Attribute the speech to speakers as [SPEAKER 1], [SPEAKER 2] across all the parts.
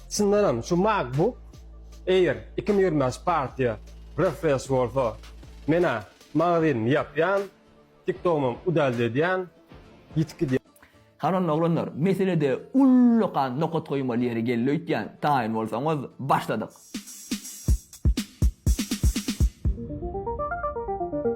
[SPEAKER 1] Çyndanam şu MacBook Air iki müň ýigrimi bäş partiýa refresh bolsa men-ä magazynmy ýapýan, TikTogymam udalde edýän, ýitip gidýän. Hany onda oglanlar meselede ullakan nokat goýmaly ýeri geldi öýtýän taýyn bolsaňyz başladyk.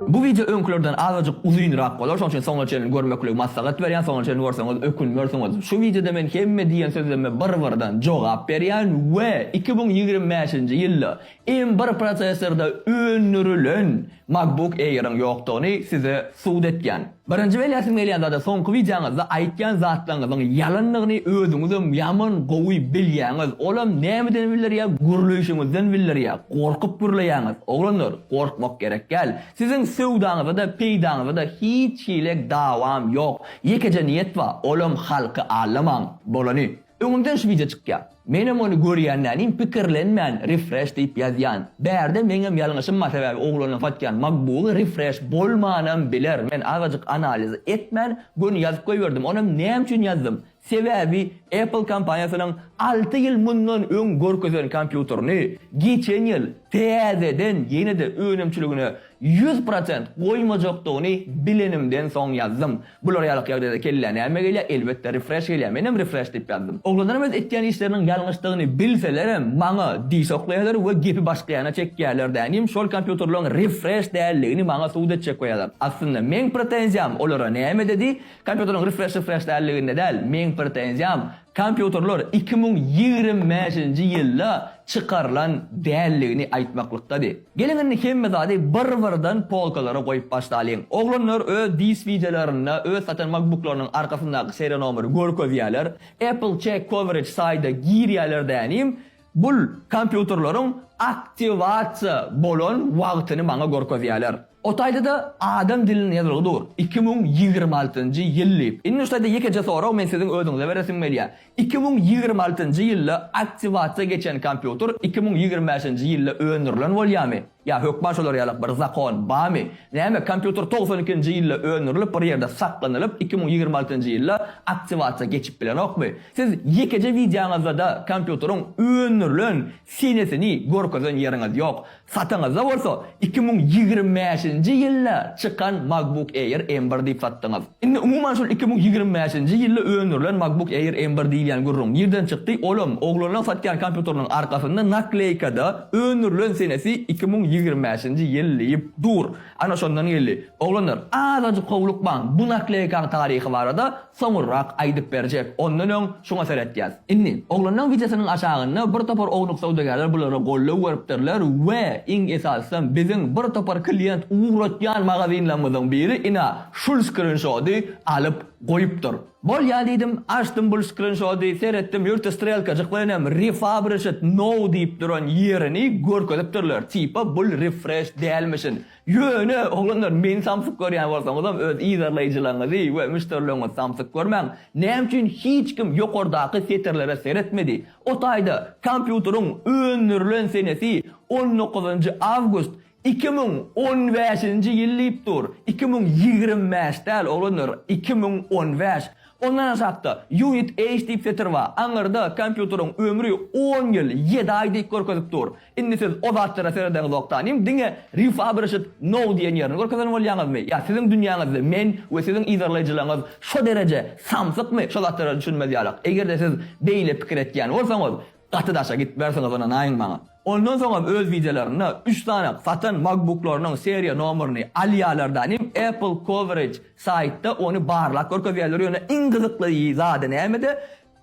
[SPEAKER 1] Bu wideo öňkülerden azajyk uzynrak bolar, şonuň üçin soňuna çenli görmekligi maslahat berýän, soňuna çenli görseňiz ökünmersiňiz. Şu wideoda men hemme diýen sözleme bir-birden jogap berýän we iki müň ýigrimi bäşinji ýylda M bir prosessorda öndürilen, MacBook Air-iň ýokdugyny size subut etýän. Birinji belläsim gelýän zada soňky wideoňyzda aýtýan zatlaryňyzyň ýalandygyny özüňizem ýaman gowy bilýäňiz. Olam nämeden bildirýä gürleýşiňizden bildirýä. Gorkup gürleýäňiz. Oglanlar gorkmak gerek däl. Siziň söwdaňyzada peýdaňyzada hiç hile dawam ýok. Ýekeje niýet ba olam halky aldamaň. Bolany. Öňümden şu wideo çykýar. Menem ony görýänlänin pikirlenmän refresh diýip ýazýan. Bärde meňem ýalňyşym bar sebäbi oglandan satýan makbugy refresh bolmanam biler men azajyk analiz etmän göni ýazyp goýberdim onam näme üçin ýazdym sebäbi apple kompaniýasynyň alty ýyl mundan öň görkezen kompýuterini geçen ýyl täzeden ýene-de önümçiligine Ýüz prosent goýmajakdygyny bilenimden soň ýazdym. Bular ýalak ýagdaýda kellä näme gelýär, elbetde refresh gelýär, menem refresh diýip ýazdym. Oglanlaram öz etýän işleriniň ýalňyşdygyny bilselerem maňa diş oklaýarlar we gepi başga ýana çekýärler dänim şol kompýuterleriň refresh däldigini maňa subut etjek goýarlar. Aslynda meň pretenziýam olara näme dedi, kompýuterleriň refresh refresh däldiginde däl, meň pretenziýam Kompýuterler iki müň ýigrimi bäşinji ýylda çykarylan däldigini aýtmaklykdady. Geliň indi hemme zady bir-birden polkalara goýup başlalyň. Oglanlar öz disk wideolarynda öz satan makbuklarynyň arkasyndaky seriýa nomeri görkezýärler. Apple Check Coverage saýda girýärler dänim, Bul kompýuterleriň aktiwasiýa bolan wagtyny maňa görkezýärler. O taýda-da adam dilinde ýazylgy dur, iki müň ýigrimi altynjy ýyl diýip. Indi şu taýda ýekeje sorag men siziň özüňize beresim gelýär. Iki müň ýigrimi altynjy ýylda aktiwasiýa geçen kompýuter iki müň ýigrimi bäşinji ýylda öndürilen bolýarmy? Ýa hökman şolar ýaly bir zakon barmy? Näme, kompýuter togsan ikinji ýylda öndürilip bir ýerde saklanylyp iki müň ýigrimi altynjy ýylda aktiwasiýa geçip bilenokmy? Siz ýekeje wideoňyzdada kompýuteriň öndürilen senesini görkezen ýeriňiz ýok. Satyňyzda bolsa iki müň ýigrimi bäşinji ýylda çykan MacBook Air M bir diýip satdyňyz. Indi umuman şol iki müň ýigrimi bäşinji ýylda öndürilen MacBook Air M bir diýilýän gürrüň nirden çykdy, olam, oglanlaň satýan kompýuteriniň arkasynda nakleýkada öndürilen senesi iki müň ýigrimi bäşinji ýyl diýip dur. Ana şondan geldi. Oglanlar, azajyk howlukmaň, bu nakleýkaň taryhy barada soňurrak aýdyp berjek, ondan öň şuňa seretýäs. Indi, oglanlaň wideosynyň aşagynda bir topar ownuk söwdagärler bulara goldaw beripdirler we, iň esasysam, biziň bir topar klient ugratýan magazinlarymyzyň biri, ina, Şul skrinşody alyp goýupdyr. Bolýa diýdim, açdym bul skrinşody, seretdim, ýurtda strelkajyklar inem refabricet now diýip duran ýerini görkezipdirler, tipa bul refresh dälmişin. Ýöne, oglanlar, meni samsyk görýän bolsaňyzam, öz yzarlaýjylaryňyzy we müşderileriňizi samsyk görmäň. Näme üçin hiç kim ýokardaky setirlere seretmedi? O taýda, kompýuteriň öndürilen senesi on dokuzynjy awgust, Iki müň on bäşinji ýyl diýip dur, iki müň ýigrimi bäş däl oglanlar, iki müň on bäş. Ondan aşakda unit age diýip setir bar, aňyrda kompýuteriň ömri on ýyl, ýedi aý diýip görkezip dur. Indi siz o zatlara seredeňizok tanym, diňe refurbished now diýen ýerini görkezen bolýaňyzmy? Ýa siziň dünýäňizde men we siziň yzarlaýjylaryňyz şo dereje samsykmy, şo zatlara düşünmez ýalak? Eger-de siz beýle pikir etýän bolsaňyz, Gaty daşa gitmersiňiz ynanaýyň maňa. Ondan soňam öz wideolarynda üç sany satan makbuklarynyň seriýa nomerini alýalar da nim Apple coverage saýtda ony barlap görkezýäler ýöne iň gyzykly zady nämede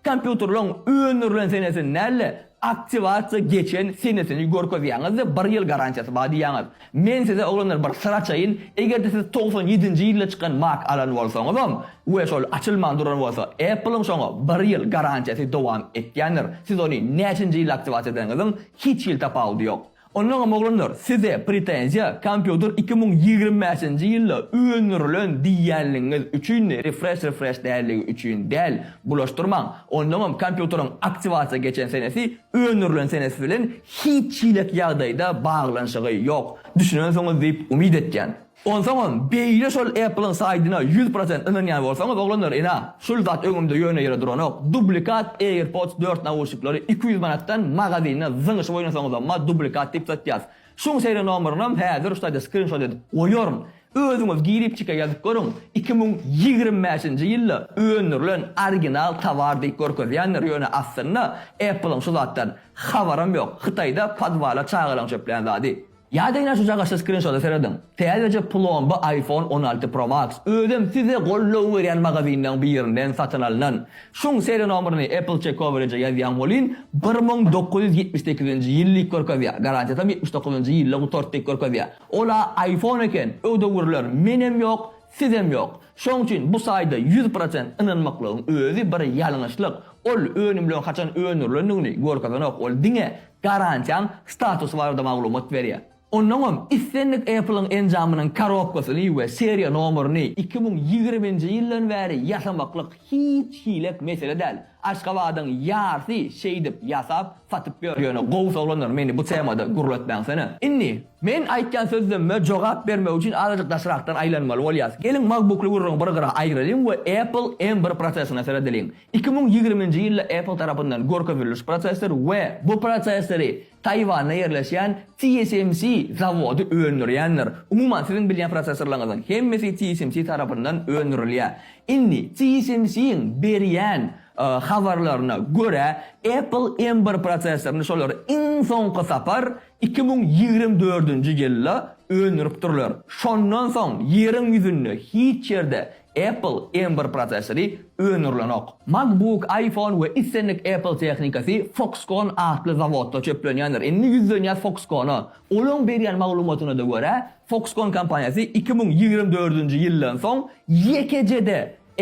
[SPEAKER 1] kompýuterlaň öndürilen senesini däl-de aktiwasiýa geçen senesini görkezýäňizde bir ýyl garantiýasy bar diýýäňiz. Men size, oglanlar, bir syr açaýyn, eger-de siz togsan ýedinji ýylda çykan Mac alan bolsaňyzam we şol açylman duran bolsa, Apple-iň şoňa bir ýyl garantiýasy dowam etýändir. Siz ony näçinji ýylda aktiwasiýa edeniňiziň hiç hili tapawudy ýok. Onnoňam, oglanlar, size pretenziýa kompýuter iki müň ýigrimi bäşinji ýylda öndürilen diýýänligiňiz üçindi, refresh refresh däldigi üçin däl. Bulaşdyrmaň. Onnoňam, kompýuteriň aktiwasiýa geçen senesi Öndürilen senesi bilen hiç çilek ýagdaýda baglanyşygy ýok, düşünensiňiz diýip umyt etýän. Onsaňam beýle şol Apple-yň saýdyna ýüz prosent ynanýan bolsaňyz oglanlar ene şul zat öňümde ýöne ýere duranok dublikat Airpods dört nauşniklary iki ýüz manatdan magazinde zyňyşyp oýnasaňyzamma dublikat diýip satýas Şuň seriýa nomerynam häzir şu taýda skrinşot edip goýaryn. Özüňiz giripçike ýazyp görüň, iki müň ýigrimi bäşinji ýylda öndürilen original towar diýip görkezýändir, ýöne aslynda Apple-yň şu zatdan habaram ýok, Hytaýda podwala çagalaň çöpleýän zady. Ýa-da ine şu jagaşly skrinşota serediň, täzeje plomba iPhone on alty Pro Max, özem size goldaw berýän magazinleriň birinden satyn alnan. Şuň seriýa nomerini Apple Check Coverage-e ýazýan welin, bir müň dokuz ýüz ýetmiş sekizinji ýyl diýip görkezýär, garantiýasam ýetmiş dokuzynjy ýylda gutardy diýip görkezýär. Ol-a iPhone eken, öwdewürler, menem ýok, sizem ýok. Şoň üçin bu saýda ýüz prosent ynanmaklygyň özi bir ýalňyşlyk. Ol önümleň haçan öndürilendigini görkezenok, ol diňe garantiýaň statusy barada maglumat berýär. Onnoňam islendik Apple-yň enjamynyň korobkasyny we seriýa nomerini iki müň ýigriminji ýyldan bäri ýasamaklyk hiç hilek mesele däl. Aşgabadyň ýarsy şeýdip ýasap, satyp ýör. Ýöne gowusy oglanlar meni bu temada gürletmäňsene. Indi, men aýtýan sözlemime jogap bermek üçin azajyk daşrakdan aýlanmaly bolýas. Geliň MacBook-ly gürrüňi bir gyra aýyralyň we Apple M bir prosessoruna seredeliň. Iki müň ýigriminji ýylda Apple tarapyndan görkezilmiş prosessor we bu prosessori Taýwanda ýerleşýän TSMC zawody öndürýändir. Umuman, siziň bilýän prosesorlaryňyzyň hemmesi TSMC tarapyndan öndürilýär. Indi, TSMC-iň berýän habarlaryna görä, Apple M bir prosesoryny şolar iň soňky sapar iki müň ýigrimi dördünji ýylda öndüripdirler. Şondan soň Ýeriň ýüzünde hiç ýerde Apple M bir prosessory öndürilenok. MacBook, iPhone we islendik Apple tehnikasy Foxconn atly zawodda çöplenýändir. Indi ýüzlenýäs Foxconna. Olaň berýän maglumatyna-da görä, Foxconn kompaniýasy iki müň ýigrimi dördünji ýyldan soň ýekeje-de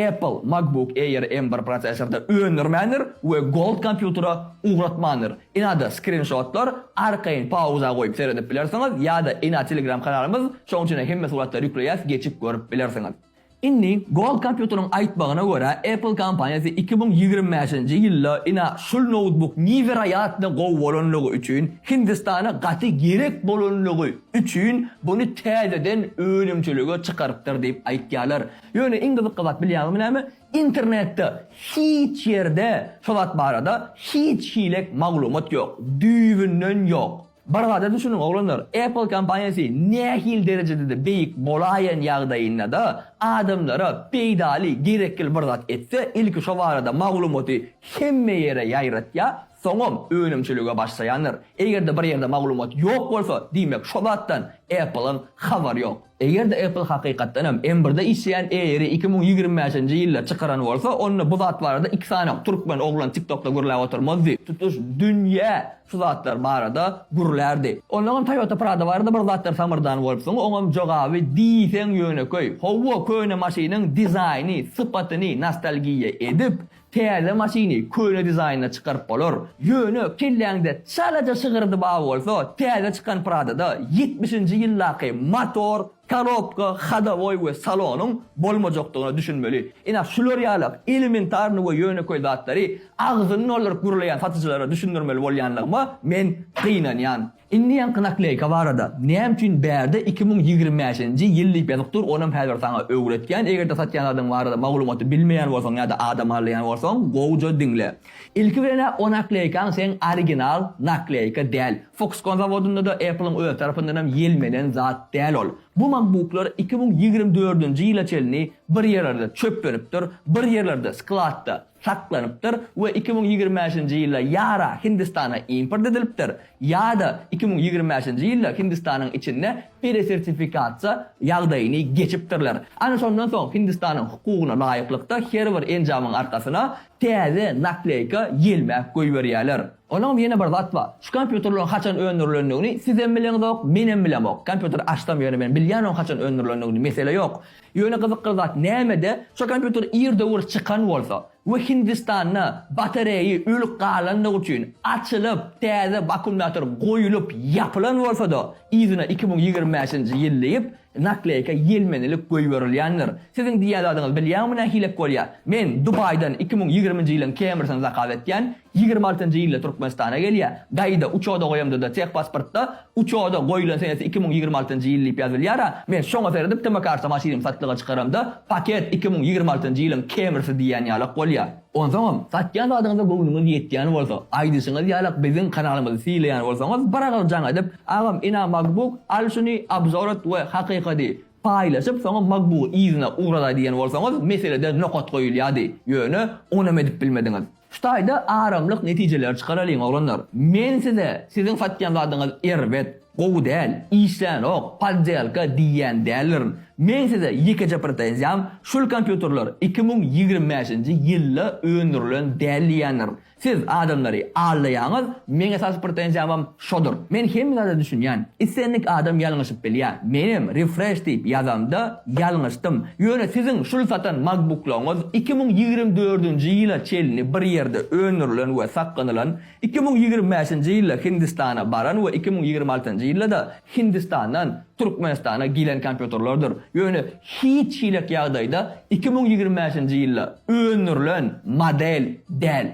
[SPEAKER 1] Apple MacBook Air M bir prosessory-da öndürmändir we Gold kompýutere ugratmandyr. Inada skrinşotlar arkaýyn pauza goýup seredip bilersiňiz ýa-da ina telegram kanalymyz şoň üçinem hemme suratlary ýükleýäs geçip görüp bilersiňiz. Indi Gold kompýuteriň aýtmagyna görä Apple kompaniýasy iki müň ýigrimi bäşinji ýylda ina şul noutbuk niweroýatno gowy bolanlygy üçin Hindistana gaty gerek bolanlygy üçin buny täzeden önümçilige çykarypdyr diýip aýtýarlar. Ýöne iň gyzykly zat bilýäňizmi näme? Internetde hiç ýerde şo zat barada hiç hilek maglumat ýok. Düýbünden ýok. Bir zada düşüniň oglanlar, Apple kompaniýasy nähili derejedede beýik bolaýan ýagdaýyndada adamlara peýdaly, gerekgil bir zat etse, ilki şo barada maglumaty hemme ýere ýaýratýa, soňam önümçilige başlaýandyr. Eger-de bir ýerde maglumat ýok bolsa, diýmek şo zatdan Apple-yň habary ýok. Eger-de Apple hakykatdan hem M birde işleýän Air-i iki müň ýigrimi bäşinji ýylda çykaran bolsa, onda bu zat barada iki sany türkmen oglan TikTok-da gürläp oturmazdy. Tutuş dünýä şu zatlar barada gürlärdi. Onnoňam Toyota Prado barada bir zatlar samyrdan bolupsyň, oňam jogaby diýseň ýönekeý. Hawa, köne maşynyň dizaýny, sypatyny nostalgiýa edip, Täze maşyny köne dizaýnda çykaryp bolar. Ýöne kelläňde çalaja şygyrdy bar bolsa, täze çykan Prado-da ýetmişinji ýyldaky motor, korobka, hodowoý we salonyň bolmajakdygyna düşünmeli. Ine, şular ýalak elementarny we ýönekeý zatlary agzyny dolduryp gürleýän satyjylara düşündirmeli bolýanlygyma men gynanýan. Indi ýaňky nakleýka barada, näme üçin bärde iki müň ýigrimi bäşinji ýyl diýip ýazyp dur, onam häzir saňa öwretýän, eger-de satýan zadyň barada maglumaty bilmeýän bolsaň ýa-da adam alýan bolsaň, gowja diňle. Ilki bilen-ä o nakleýkaň seň original nakleýka däl. Foxconn zawodynda-da, Apple-iň öz tarapyndanam ýelmenen zat däl ol. Bu makbuklar iki müň ýigrimi dördünji ýyla çenli bir ýerlerde çöplenipdir, bir ýerlerde, skladda, saklanypdyr we iki müň ýigrimi bäşinji ýylda ýa-ra Hindistana import edilipdir, ýa-da iki müň ýigrimi bäşinji ýylda Hindistanyň içinde peresertifikasiýa ýagdaýyny geçipdirler. Ana şondan soň Hindistanyň hukugyna laýyklykda her bir enjamyň arkasyna täze nakleýka ýelmäp goýberýärler. Onuňam ýene bir zat bar. Şu kompýuterleriň haçan öndürilendigini sizem bileňizok, menem bilemok. Kompýuter açsam ýöne men bilýän onuň haçan öndürilendigini, mesele ýok. Ýöne gyzykly zat nämede, şo kompýuter ir döwür çykan bolsa we Hindistanda batareýi ölüp galandygy üçin açylyp, täze wakkumnator goýulyp ýapylan bolsa-da, yzyna iki müň ýigrimi bäşinji ýyl diýip, nakleýka ýelmenilip goýberilýändir. Siziň diýýän zadyňyz bilýäňmi nähilek bolýar? Men Dubaýdan iki müň ýigriminji ýylyň kemersyny zakaz etýän, Ýigrimi altynjy ýylda Türkmenistana gelýär. Gaýda uçoda goýamda-da tehpasportda uçoda goýlan senesi iki müň ýigrimi altynjy ýyl diýip ýazylýar-a. Men şoňa seredip tmkarsa maşynymy satlyga çykaramda paket iki müň ýigrimi altynjy ýylyň Camrysy diýýän ýalak bolýar. Onsoňam, satýan zadyňyza göwnüňiz ýetýän bolsa, aýdyşyňyz ýalak biziň kanalymyzy sylaýan bolsaňyz bir agyz jaň edip, Agam, ina MacBook, al şuny, obzor et we hakyka diý. Paýlaşyp, soňam Magbugy yzyna ugradaý diýen bolsaňyz, meselede nokat goýulýardy. Ýöne, onem edip bilmediňiz. Şu taýda aramlyk netijeleri çykaralyň, oglanlar. Men size, siziň satýan zadyňyz erbet, gowy däl, işlänok, poddelka diýýän däldirin. Men size ýekeje pretenziýam, şul kompýuterler iki müň ýigrimi bäşinji ýylda öndürilen däl diýýändirin. Siz adamlary aldaýaňyz, meň esasy pretenziýamam şodur. Men hemme zada düşünýän. Islendik adam ýalňyşyp bilýä. Menem refresh diýip ýazamda ýalňyşdym. Ýöne siziň şul satan makbuklaryňyz iki müň ýigrimi dördünji ýyla çenli bir ýerde öndürilen we saklanylan, iki müň ýigrimi bäşinji ýylda Hindistana baran we iki müň ýigrimi altynjy ýylda-da Hindistandan Türkmenistana gelen kompýuterlerdir. Ýöne hiç hilik ýagdaýda iki müň ýigrimi bäşinji ýylda öndürilen model däl.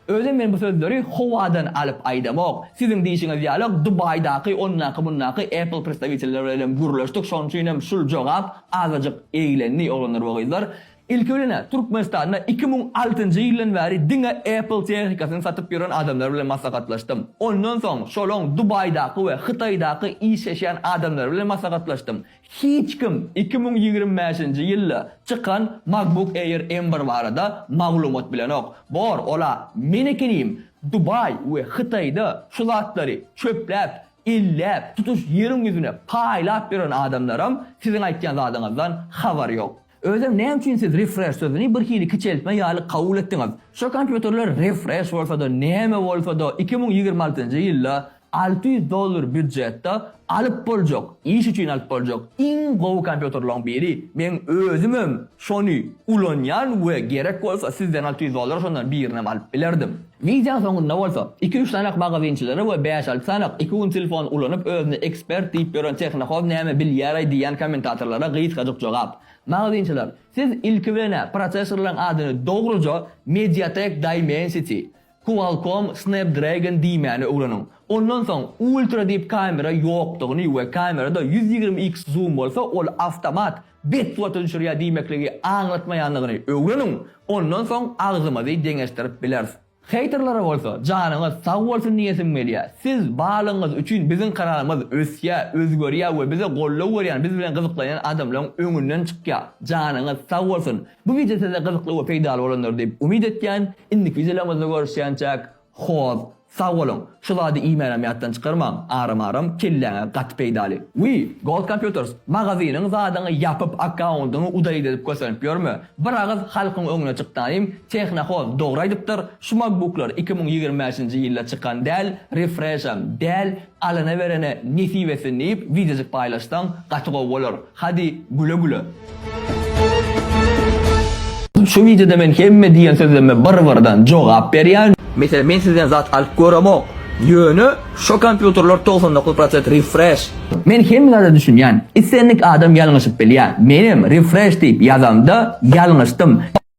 [SPEAKER 1] Özem men bu sözleri howadan alyp aýdamok. Siziň diýşiňiz ýaly Dubaýdaky ondaky-mundaky Apple predstawitelleri bilenem gürleşdik, şonuň üçinem şul jogap azajyk eglendi, oglanlar we gyzlar. Ilki bilen-ä Türkmenistanda iki müň altynjy ýyldan bäri diňe Apple tehnikasyny satyp ýören adamlar bilen maslahatlaşdym. Ondan soň şolaň Dubaýdaky we Hytaýdaky işleşýän adamlary bilen maslahatlaşdym. Hiç kim iki müň ýigrimi bäşinji ýylda çykan MacBook Air M bir barada maglumat bilenok. Bor, ol-a men ekenim Dubaý we Hytaýda şu zatlary çöpläp, elläp, tutuş ýeriň ýüzüne paýlap ýören adamlaram siziň aýtýan zadyňyzdan habary ýok. Özem näme üçin siz refresh sözüni bir hili kiçeltme ýaly kabul etdiňiz? Şu kompýuterler refresh bolsada näme bolsada iki müň ýigrimi altynjy ýylda alty ýüz dollar býudjetde alyp boljak iş üçin alyp boljak iň gowy kompýuterlaň biri meň özümem şony ulanýan we gerek bolsa sizden alty ýüz dollara şondan birinem alyp bilerdim. Wideoň soňunda bolsa, iki-üç sanak magazynçylary we bäş-alty sanak iki gün telefon ulanyp özüne ekspert diýip ýören tehnohoz näme bilýär-aý diýýän kommentatorlara gysgajyk jogap. Magazynçylar, siz ilki bilen-ä prosessorlaryň adyny dogruja Mediatek Dimensity, Qualcomm Snapdragon diýmäni öwreniň. Ondan soň Ultra diýip kamera ýokdugyny we kamerada ýüz ýigrimi x zoom bolsa ol awtomat bet suwata düşürýär diýmekligi aňlatmaýandygyny öwreniň, ondan soň agzymyzy deňeşdirip bileris. Heýterlere bolsa janyňyz sag bolsun diýesim gelýär. Siz barlygyňyz üçin biziň kanalymyz ösýär, özgerýär we bize goldaw berýän, biz bilen gyzyklanýan adamlaryň öňünden çykýar. Janyňyz sag bolsun. Bu wideo size gyzykly we peýdaly bolandyr diýip umyt etýän. Indiki wideolarimizde görüşýänçäk. Hoz, sag boluň. Şu zady iýmänem ýatdan çykarmaň, aram-aram kelläňe gaty peýdaly. Wiý, Gold Computers, magazynyň zadyňy ýapyp akkaundyňy udalit edip kösenip ýörme. Bir agyz halkyň öňüne çyk daýym, Tehnohoz dogry aýdypdyr, şu makbuklar iki müň ýigrimi bäşinji ýylda çykan däl, refreşem däl, Alana berene nesip etsin diýip wideojyk paýlaşsaň gaty gowy bolar. Hadi güle güle. Şu wideoda men hemme diýen sözleme bir birden jogap berýän. Meselem men sizden zat alyp göremok ýöne şo kompýuterler togsan dokuz prosent refresh. Men hemme zada düşünýän. Islendik adam ýalňyşyp bilýär. Menem refresh diýip ýazamda ýalňyşdym.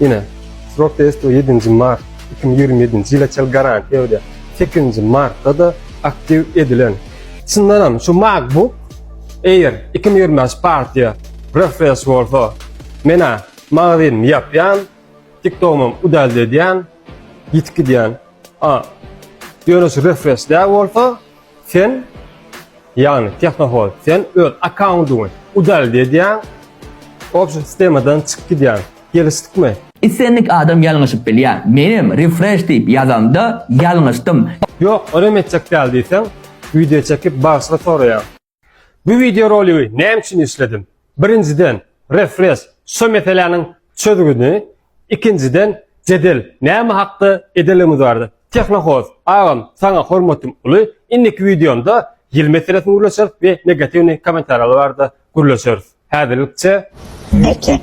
[SPEAKER 1] Ine, srok testi 7 mart 2027 ýyla çel garantiýa berýär. 8 martda da aktiw edilen. Çyndan hem şu MacBook Air 2025 partiýa refresh bolsa, menä magazynymy ýapýan, TikTokymam udalde edýän, ýitip gidýän. A, ýöne şu refresh däl bolsa, Sen, ýagny Tehnohost, sen öz akkaundyňy udaliti edýäň, obşa sistemadan çykyp gidýäň. Gelişdikmi? Islendik adam ýalňyşyp bilýär. Menem refresh diýip ýazanda ýalňyşdym. Ýok, onam etjek däl diýseň, wideo çekip bagyşlyk soraýaň. Bu wideo roligi näme üçin işledim? Birinjiden, refres, şo meseläniň çözgüdini, ikinjiden, jedel, näme hakda edeligimiz barada. Tehnohoz, agam, saňa hormatym uly, indiki wideomda ýyl meselesini gürleşeris we negatiwnyý kommentariýalar barada gürleşeris. Häzirlikçe. Nokot.